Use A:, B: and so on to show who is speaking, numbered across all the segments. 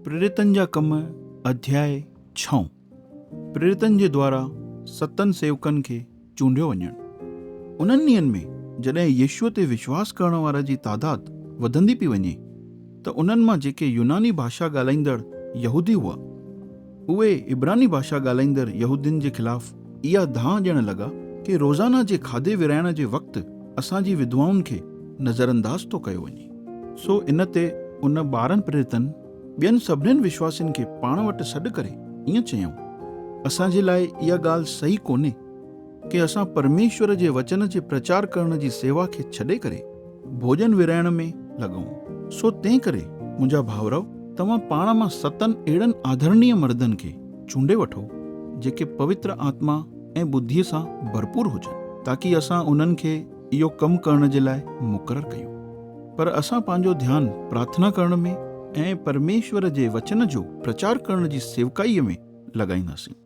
A: پريرتن جا ڪم اڌياء ڇهون، پريرتن جي دوارا ستن سيوڪن کي چونڊيو وڃڻ، انهن ڏينهن ۾ جڏهن يسوع تي وشواس ڪرڻ وارن جي تعداد وڌندي پئي وڃي ته انهن مان جيڪي يوناني ڀاشا ڳالهائيندڙ يهودي هئا، اهي عبراني ڀاشا ڳالهائيندڙ يهودين جي خلاف اها دانهن ڏيڻ لڳا ڪي روزانه جي کاڌي ورهائڻ جي وقت اسان جي وڌوائن کي نظرانداز ٿو ڪيو وڃي. سو ان تي ان ٻارهن پريرتن ٻين سڀنين وشواسين کي پاڻ وٽ سڏ ڪري ائين چيائون، اسان جي لاء اها ڳالهه صحيح ڪونهي. ڪي اسان پرميشور جي وچن جي پرچار ڪرڻ جي سيوا کي ڇڏي ڪري ڀوڄن ورهائڻ ۾ لڳون. سو تنهن ڪري منهنجا ڀائرؤ توهان پاڻ مان ستن اهڙن آڌرڻيه مردن کي چونڊي وٺو جيڪي پوتر آتما ۽ ٻڌيء سان ڀرپور هجن تاڪي اسان انهن کي اهو ڪم ڪرڻ جي لاء مقرر ڪيون. پر اسان پنهنجو ڌيان پرارٿنا ڪرڻ ۾۽ پرميشور جي وچن جو پرچار ڪرڻ جي سيوڪائيء ۾ لڳائينداسين.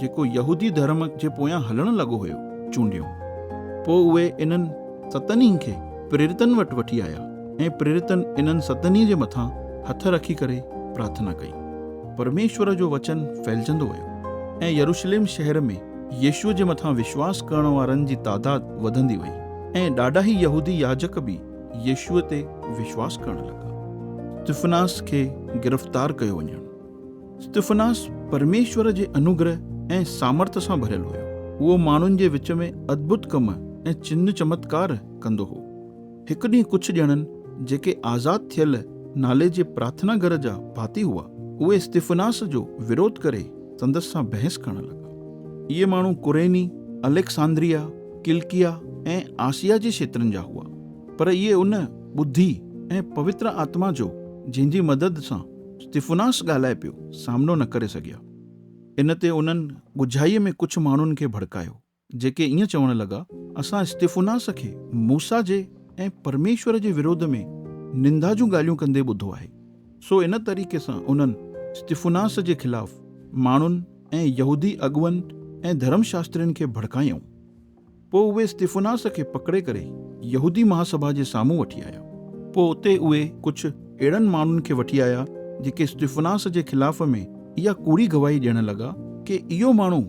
A: جيڪو يهودي ڌرم جي پويان هلڻ لڳو هيو، چونڊيون. پوء اهي انهن ستنهين کي پريرتن وٽ وٺي آيا، ۽ پريرتن انهن ستنهين جي مٿان هٿ رکي ڪري پرارٿنا ڪئي. پرميشور جو وچن ڦهلجندو ويو، ۽ يروشليم شهر ۾ يسوع جي مٿان وشواس ڪرڻ وارن جي تعداد وڌندي وئي، ۽ ڏاڍاهي يهودي ياجڪ به يسوع تي وشواس ڪرڻ لڳا. استفناس کي گرفتار ڪيو وڃڻ. استفناس پرميشور جي انوگره ۽ سامرٿ سان ڀريل هيو. اهو ماڻهن جي وچ ۾ ادڀت ڪم ۽ چنه چمتڪار ڪندو هو. هڪ ڏينهن ڪجهه ڄڻن، جيڪي آزاد ٿيل نالي جي پرارٿنا گهر جا ڀاتي هئا، اهي استفناس جو وروڌ ڪري سندس سان بحث ڪرڻ لڳا. اهي ماڻهو ڪريني، اليڪساندريا، ڪلڪيا ۽ آسيا جي کيترن جا هئا، پر اهي ان ٻڌي ۽ پوتر آتما جو، جنهن جي مدد سان استفناس ڳالهائي پيو، سامنو نه ڪري سگهيا. ان تي انهن ڳجهائيء ۾ ڪجهه ماڻهن کي ڀڙڪايو، جيڪي ائين چوڻ لڳا، اسان استفناس کي موسيٰ جي ۽ پرميشور جي ورود ۾ نندا جون ڳالهيون ڪندي ٻڌو آهي. سو ان طريقي سان انهن استفناس جي خلاف ماڻهن ۽ يهودي اڳوئن ۽ ڌرم شاسترين کي ڀڙڪايائون. پوء اهي استفناس کي پڪڙي ڪري يهودي مهاسڀا جي سامهون وٺي آيا. پوء اتي اهي ڪجهه اهڙن ماڻهن کي وٺي آيا، جيڪي استفناس جي خلاف ۾ اها ڪوڙي گواهي ڏيڻ لڳا ڪي اهو ماڻهو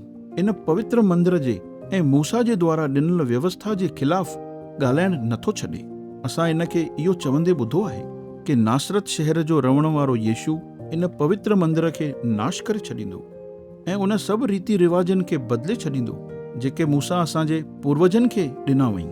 A: ان پوتر مندر جي ۽ موسيٰ جي دوارا ڏنل ويوسٿا جي خلاف ڳالهائڻ نه ٿو ڇڏي. اسان هن کي اهو چوندي ٻڌو آهي ڪي ناصرت شهر جو رهڻ وارو يسوع ان پوتر مندر کي ناش ڪري ڇڏيندو. ۽ ان سڀ ريتي رواجن کي بدلي ڇڏيندو جيڪي موسيٰ اسان جي پوروجن کي ڏنا هئائين.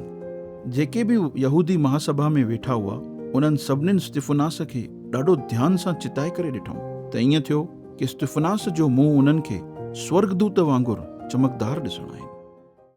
A: جيڪي به يهودي مهاسڀا ۾ ويٺا هئا، انهن سڀنين استفناس کي ڏاڍو ڌيان سان چتائي ڪري ڏٺائون ته ائين ٿيو ڪه استفناس جو منهن انهن کي سورڳدوت وانگر چمڪدار ڏسڻ آيو.